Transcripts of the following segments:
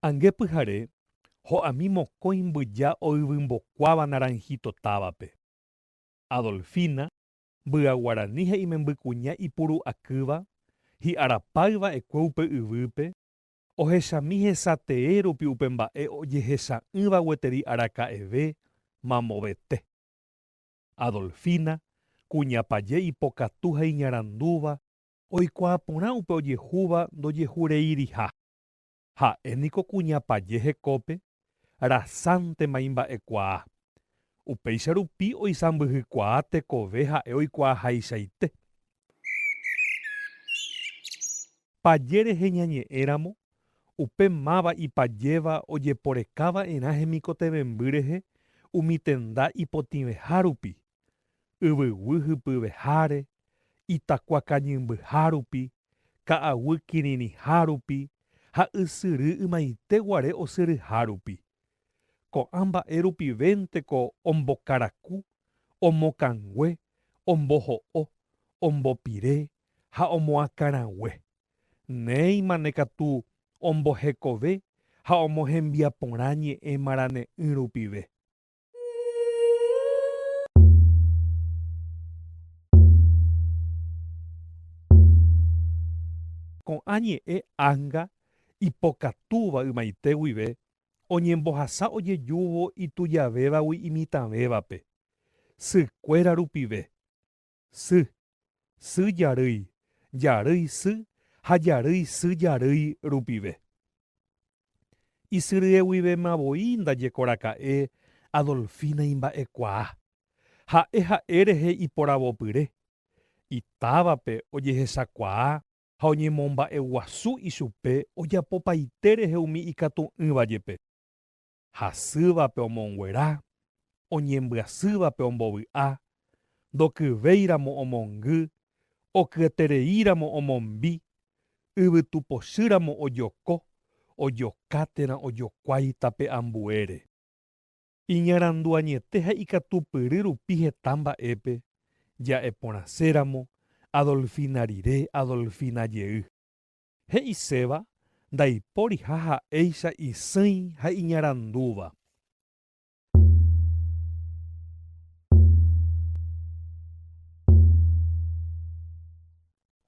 Ange pyhare, ho'ami mokõi mbyja oyvymbokuáva Naranjito távape. Adolfina, mbya guarani ha imembykuña ipuru'akýva, hi'arapáy va'ekue upe yvýpe, ohechami hesatee rupi upe mba'e ojehecha'ỹva gueteri araka'eve, mamovete. Adolfina, kuñapaje ipokatu ha iñarandúva, oikuaa porã upe ojehúva ndojehureiriha. Ha'e niko kuña paje hekópe rasãntema imba'ekuaa. Upéicha rupi oisãmbyhykuaa tekove ha'e oikuaahaichaite. Paje rehe ñañe'ẽ ramo, upe máva ipajéva ojeporeka va'erã hemikotevẽmby rehe umi tenda ipotĩveha rupi, yvyguy hypyveháre, itakua kañymbyha rupi, ka'aguy kirirĩha rupi ha ysyry ymaite guare osyryha rupi. Ko'ã mba'e rupivénteko ombokaraku, omokãngue, omboho'o, ombopire ha omoakãrague. Néimane katu ombohekove ha omohembiaporã ñe'ẽ marane'ỹ rupive. Ko'ã ñe'ẽ ánga ipokatúva ymaite guive oñembohasa ojejúvo itujavévagui imitãvévape, sykuéra rupive. Sy, sy jarýi, jarýi sy ha jarýi sy jarýi rupive. Isyrye guivéma voi ndajekoraka'e Adolfina imba'ekuaa. Ha'e ha'e rehe iporavopyre, itávape ojehechakuaa ha oñemomba'eguasu ichupe ojapopaite rehe umi ikatu'ỹva jepe. hasývape omonguera, oñembyasývape ombovy'a, ndokyvéiramo omongy, okyetereíramo omombi, yvytu pochýramo ojoko, ojoka térã ojokuái tape ambuére. Iñarandu añete ha ikatupyry rupi heta mba'épe, ja'e porãséramo, Adolfina rire, Adolfina jey. He'iséva ndaipóriha ha'éicha isỹi ha iñarandúva.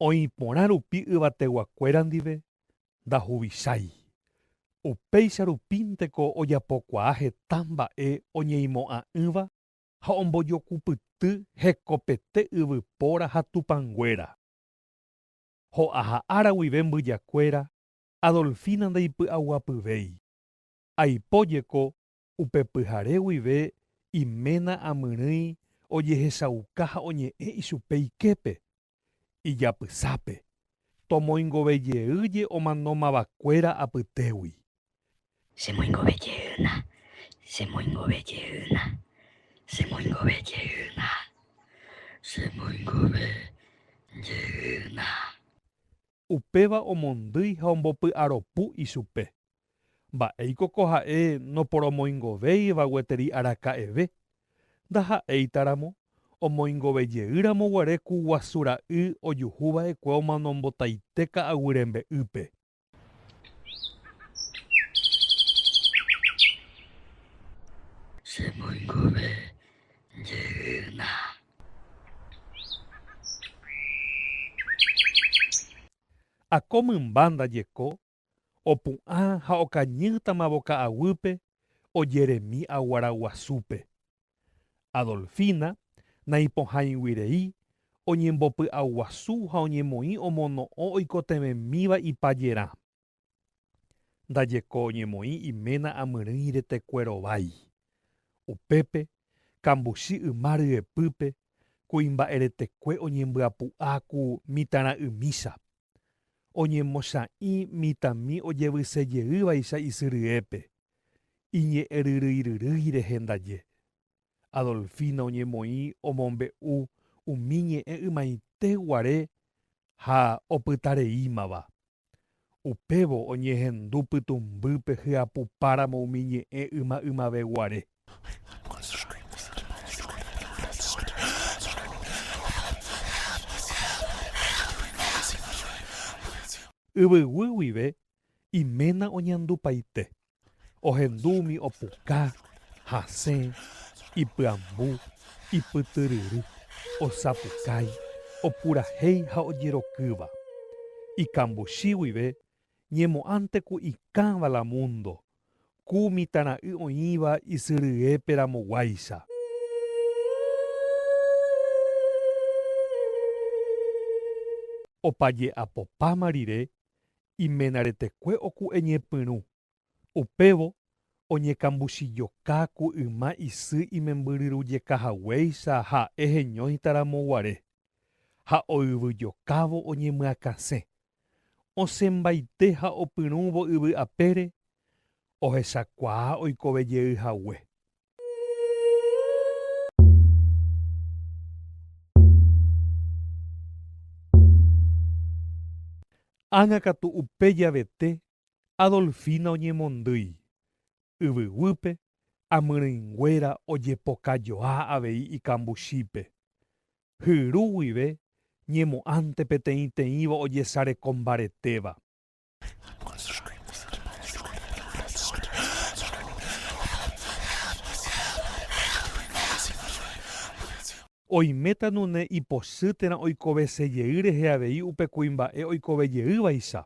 Oĩ porã rupi yvateguakuéra ndive ndahuvichái. Upéicha rupínteko ojapokuaa heta mba'e oñeimo'ã'ỹva ha ombojokupyty hekopete yvypóra ha tupãnguéra. Ho'aha ára guive mbyjakuéra Adolfina ndaipy'aguapyvéi. Aipo jeko upe pyhare guive iména amyrỹi ojehechauka ha oñe'ẽ ichupe iképe, ijapysápe, tomoingove jey je omano mavakuéra apytégui. Chemoingove jeýna, chemoingove jeýna, chemoingove jeýna, chemoingove jeýna. Upéva omondýi ha ombopy'aropu ichupe. Mba'éiko ko ha'e noporomoingovéiva gueteri araka'eve? Ndaha'éitaramo, omoingove jeýramo guare ku guasu ra'y ojuhuva'ekue omano mbotaite ka'aguy rembe'ýpe. Ha ko mymba ndajeko, opu'ã ha okañýtamavo ka'aguýpe ojeremi aguara guasúpe. Adolfina, naipohãiguirei, oñembopy'aguasu ha oñemoĩ omono'õ oikotevẽmíva ipajerã. Ndajeko oñemoĩ iména amyrỹi retekue rovái. Upépe, kambuchi yma ryepýpe, kuimba'eretekue oñembyapu'a ku mitãra'ymícha. oñemocha'ĩ mitãmi ojevyse jeývaicha isy ryépe, iñe'ẽryryiryrýi rehe ndaje. Adolfina oñemoĩ omombe'u umi ñe'ẽ ymaite guare ha opytareímava. Upévo oñehendu pytũmbýpe hyapupáramo umi ñe'ẽ yma ymave guare. Yvyguy guive iména oñandupaite, ohendu umi opuka, hasẽ, ipyambu, ipytyryry, osapukái, opurahéi ha ojerokýva. Ikambuchi guive ñemo'ãnteko ikãva la múndo ku mitãra'y oĩva isyryépe ramoguáicha. Opa je'apopáma rire, imenaretekue oku'e ñepyrũ, upévo oñekambuchijoka ku yma isy imembyryrujeka haguéicha ha'e heñóitaramo guare, ha oyvyjokávo oñemyakãse osẽmbaite ha opyrũvo yvy apére, ohechakuaa oikove jey hague. Ág̃a katu upe javete Adolfina oñemondýi, yvyguýpe amyrỹinguéra ojepokajoa avei ikambuchípe, hyru guive ñemo'ãnte peteĩteĩva ojesareko mbaretéva. Oiméta nune ipochýterã oikovesejey rehe avei upe kuimba'e oikovejeývaicha,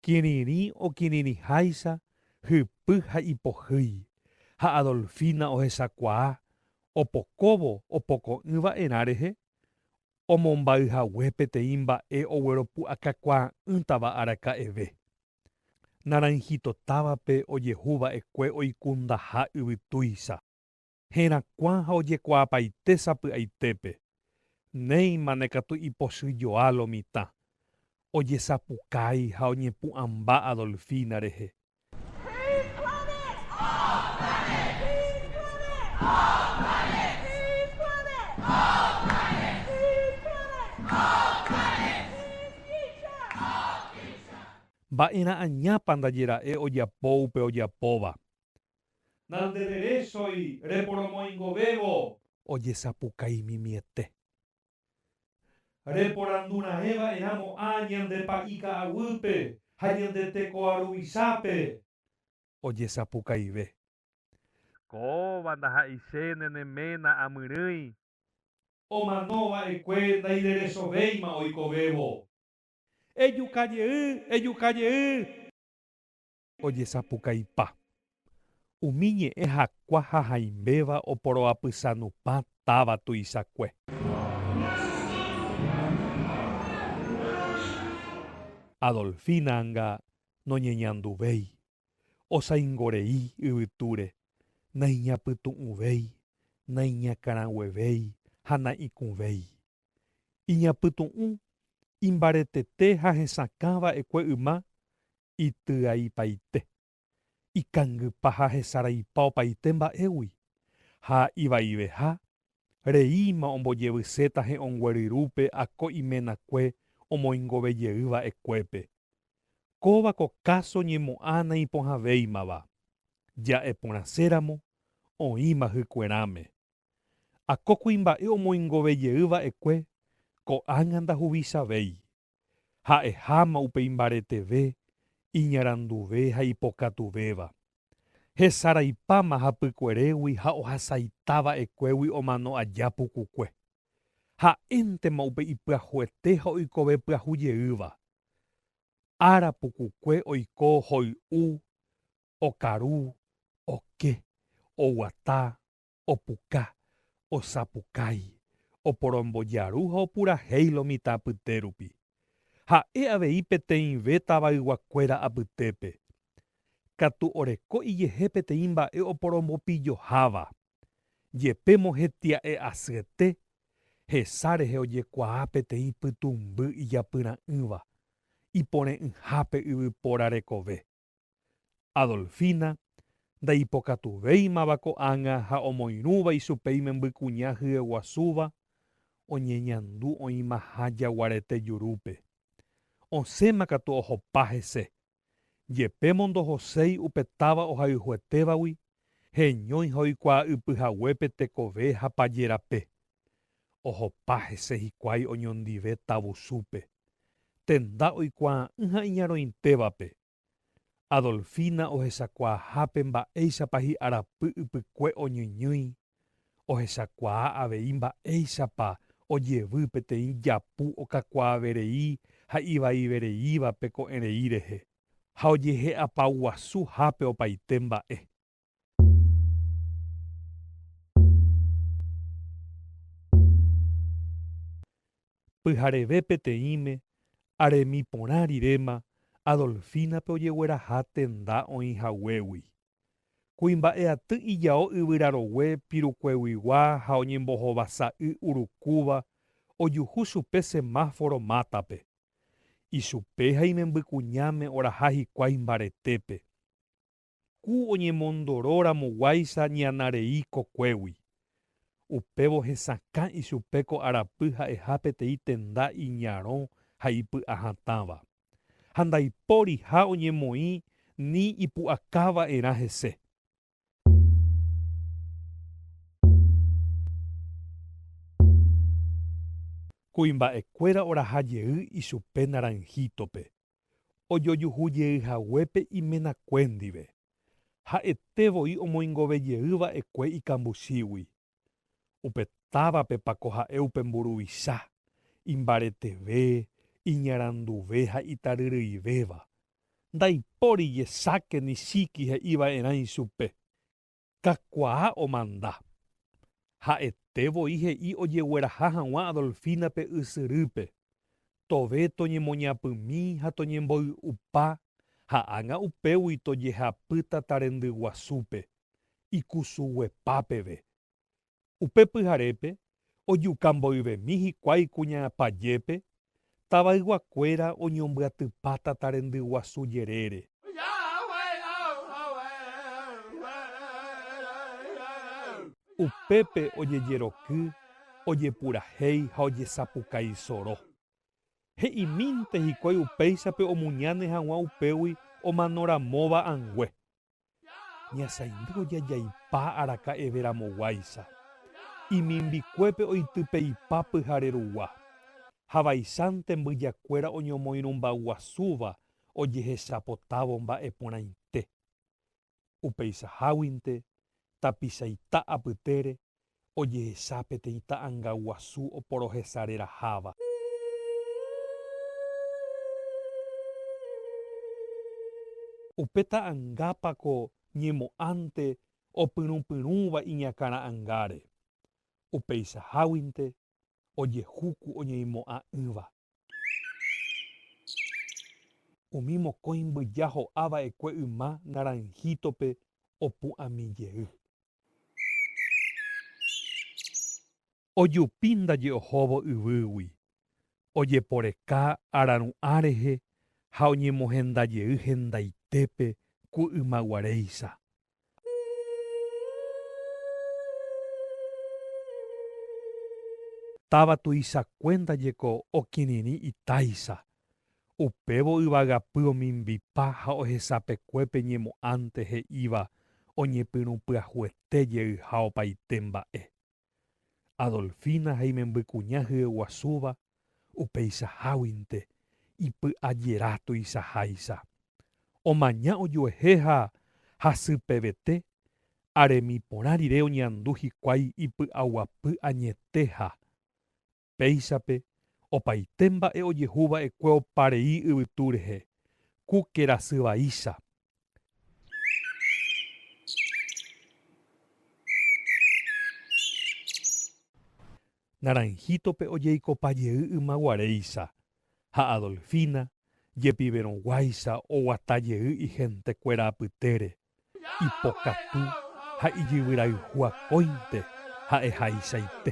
kirirĩ okirirĩháicha hypy ha ipohýi, ha Adolfina ohechakuaa opokóvo opoko'ỹ va'erã rehe, omombáy hague peteĩ mba'e ogueropu'akakuaa'ỹtava araka'eve. Naranjito távape ojehu va'ekue oikundaha yvytúicha. Herakuã ha ojekuaapaite sapy'aitépe, néima ne katu ipochyjoa lo mitã. Ojesapukái ha oñepu'ãmba Adolfina rehe. Híjole, ópale, híjole, ópale, híjole, ópale, híjole, ópale, ókicha, ókicha. Mba'erã añápa ndajera'e ojapo upe ojapóva. Nandereresói reporomoingovévo. Ojesapukaimimiete. Reporandurãeva'erã mo'ã ñande pa'i ka'aguýpe ha ñande tekoa ruvisápe. Ojesapukaive. Kóva ndaha'eiséne ne ména amyrỹi. Omanova'ekue ndaireresovéima oikovévo. Ejukajey, ejukajey. Ojesapukaipa. Umi ñe'ẽ hakua ha haimbéva oporoapysanupã táva tuichakue. Adolfina anga noñeñanduvéi, osaingorei yvytúre, naiñapytu'ũvéi, naiñakãraguevéi ha na'ikũvéi. Iñapytu'ũ, imbaretete ha hesakã va'ekue yma ityaipaite, ikangypa ha hesaraipa opaite mba'égui, ha ivaiveha reíma ombojevyséta he'õngueryrúpe ha ko iménakue omoingovejey va'ekuépe. Kóva ko káso ñemo'ã naipohãvéimava, ja'e porãséramo oĩma hykuerãme. Ha ko kuimba'e omoingovejey va'ekue ko'ág̃a ndahuvichavéi. ha'eháma upe imbareteve, iñaranduve ha ipokatuvéva, hesaraipáma hapykuerégui ha ohasaita va'ekuégui omano aja pukukue. Ha'éntema upe ipyahuete ha oikove pyahu jeýva. Ára pukukue oiko hoy'u, okaru, oke, oguata, opuka, osapukái, oporombojaru ha opurahéi lo mitã apyte rupi. Ha'e avei peteĩve tavayguakuéra apytépe. Katu oreko ijehe peteĩ mba'e oporombopilloháva. Jepe mohetia'e asyete, hesa rehe ojekuaa peteĩ pytũmby ijapyra'ỹva, ipore'ỹhápe yvypóra rekove. Adolfina ndaipokatuvéimava ko'ág̃a ha omoirũva ichupe imembykuña hyeguasúva oñeñandu oĩmaha jaguarete jurúpe. Osẽma katu ohopa hese. Jepémo ndohoséi upe táva ohayhuetévagui, heñói ha oikuaa'ypyhaguépe tekove ha paje rape. Ohopa hese hikuái oñondive tavusúpe, tenda oikuaa'ỹ ha iñarõitévape. Adolfina ohechakuaahápe mba'éichapa hi'arapy ypykue oñyñýi, ohechakuaa avei mba'éichapa ojevy peteĩ japu okakuaaverei ha ivaivereívape ko'ẽrei rehe, ha ojehe'apaguasu hápe opaite mba'e. Pyhareve peteĩme, aremi porã riréma Adolfínape ojegueraha tenda oĩ haguégui. Kuimba'eaty ijao yvyrarogue pirukueguigua ha oñembohovasa y urukúva ojuhu chupe semáforo mátape. Ichupe ha imembykuñáme oraha hikuái mbaretépe. Ku oñemondoro ramo guáicha ñana rei kokuégui. Upévo hesakã ichupe ko arapy ha'eha peteĩ tenda iñarõ ha ipy'a hatãva. Ha ndaipóriha oñemoĩ ni ipu'aka va'erã hese. Kuimba'e kuéra oraha jey ichupe Naranjito-pe. ojojuhu jey haguépe imenakue ndive, ha'ete voi omoingove jey va'ekue ikambuchígui. Upe távapepa ko ha'e upe mburuvicha, imbareteve, iñaranduve ha itaryryivéva! Ndaipóri jesáke ni chíki he'iva'erã ichupe. Kakuaa omanda. Ha'ete voi he'i ojegueraha hag̃ua Adolfina-pe ysyrýpe. Tove toñemoñapymi ha toñemboy'upa ha ág̃a upégui tojehapy tatarendy guasúpe, ikusuguepa peve. Upe pyharépe, ojuka mboyvemi hikuái kuña pajépe, tavayguakuéra oñombyatypa tata rendy guasu jerére. Upépe ojejeroky, ojepurahéi ha ojesapuka isoro. He'imínte hikuái upéichape omuñáne hag̃ua upégui omanoramóva angue. Ñasaindyvo jajaipa araka'eve ramoguáicha, imimbikuépe oitypeipa pyhare rugua, ha vaicháinte mbyjakuéra oñomoirũmbaguasúva ojehechapotávo mba'e porãite. Upeichaháguinte, tapichaita apytére, ojehecha peteĩ ta'anga guasu oporohesareraháva. Upe ta'angápa ko ñemo'ãnte opyrũpyrũva iñakãra'angáre, upeichaháguinte ojehuku oñeimo'ã'ỹva. Umi mokõi mbyja ho'a va'ekue yma naranhítope opu'ãmi jey. Ojupi ndaje ohóvo yvýgui, ojeporeka araru'ã rehe ha oñemohenda jey hendaitépe ku ymaguaréicha, Táva tuichakue ndajeko okirirĩ itáicha, upévo yvagapy omimbipa ha ohechapekue pe ñemo'ãnte he'íva oñepyrũ pyahuete jeyha opaite mba'e. Adolfina ha imembykuña hyeguasúva upeichaháguinte ipy'ajera tuichaháicha, omaña ojuehe ha hasypevete aremi porã rire oñeandu hikuái ipy'aguapy añeteha Péichape opaite mba'e ojehu va'ekue opa rei yvytu rehe, ku kerasy vaícha. Naranjito-pe ojeikopa jey yma guaréicha, ha Adolfina jepiverõ guáicha oguata jey ihentekuéra apytére. ipokatu ha ijyvyrayhu akóinte ha'ehaichaite.